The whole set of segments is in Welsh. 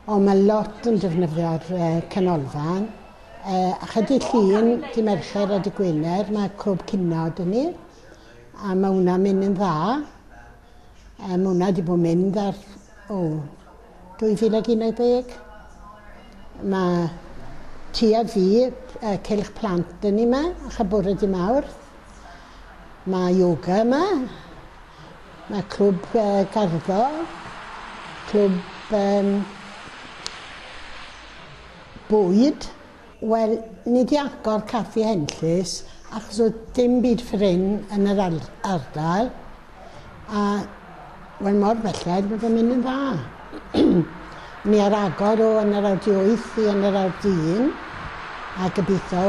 Ond mae lot yn defnyddio'r uh, canolfan. Uh, a chydig llun, di Mercher a di Gwener, mae Cwb Cynod yn ni. A mae hwnna'n mynd yn dda. A mae hwnna wedi bod yn mynd ar o, 2011. Mae tua fi y cylch plant yn ni yma, a bore di mawr. Mae yoga yma. Mae clwb uh, garddo. Clwb um, bwyd. Wel, ni 'di agor caffi henllys achos oedd dim byd ffrin yn yr ardal a wel mor belled bod e'n mynd yn dda. Ni ar agor o yn yr awr wyth i yn yr awr dyn a gobeithio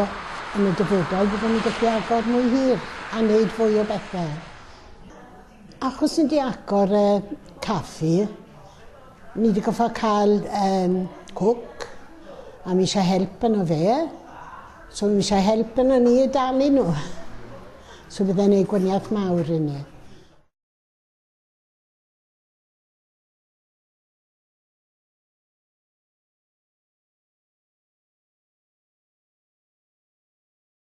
yn y dyfodol byddwn ni'n gallu agor mwy hir a wneud fwy o bethau. Achos ni 'di agor y caffi Ni wedi gorfod cael um, cook, a mi eisiau help yno fe. So mi eisiau help yno ni i dalu nhw. So bydde'n ei gwaniaeth mawr i ni.